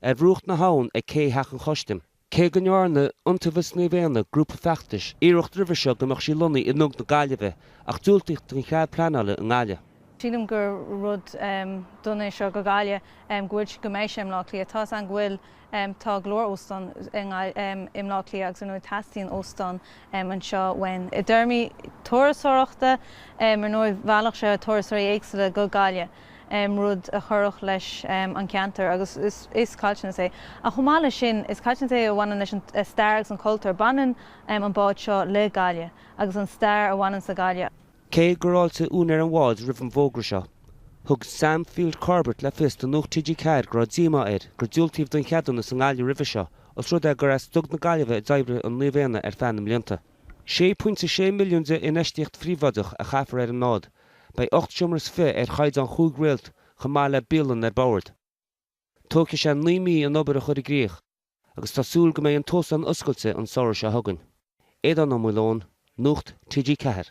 ar bhruach na habhann ag cé theach an chustaim. Cé go ndearnadh Iontaobhas Naomh Éanna grúpa feachtais iarracht roimhe seo go mbeadh sí lonnaithe i nDug na Gaillimhe, ach diúltaíodh don chead pleanála i nGaillimh. Sílim gur rud dona é seo go Gaillimh, go bhfuil sí, go mbeidh sí i mBleá Cliath. Tá a fhios againn go bhfuil, tá go leor óstán i mBleá Cliath agus ar ndóigh teastaíonn óstán anseo uainn. I dtéarmaí turasóireachta, ar ndóigh, mheallfadh sé turasóirí éagsúla go Gaillimh. rud a chuirfeadh leis an gceantar agus is caillteanas é. Ach chomh maith leis sin, is caillteanas é a bhaineann leis an stair agus an cultúr. Baineann an bád seo le Gaillimh agus an stair a bhaineanns le Gaillimh. Cé gur fháiltigh úinéir an bháid roimh an bhfógra seo, thug Sam Field Corbett le fios do Nuacht TG4 go raibh díomá air gur diúltaíodh don cheadúnas i nGaillimh roimhe seo os rud é gur as Dug na Gaillimhe a d'oibrigh an Naomh Éanna ar feadh na mblianta. €6.6 milliún d' infheistíocht phríobháideach a chaithfear ar an mbád. Beidh ocht seomra is fiche ar chaighdeán chúig réalt chomh maith le bialann ar bord. Tógfaidh sé naoi mí an obair a chur i gcrích agus tá súil go mbeidh an t-óstán oscailte an samhradh seo chugainn. Aodhán Ó Maoileoin, Nuacht TG4.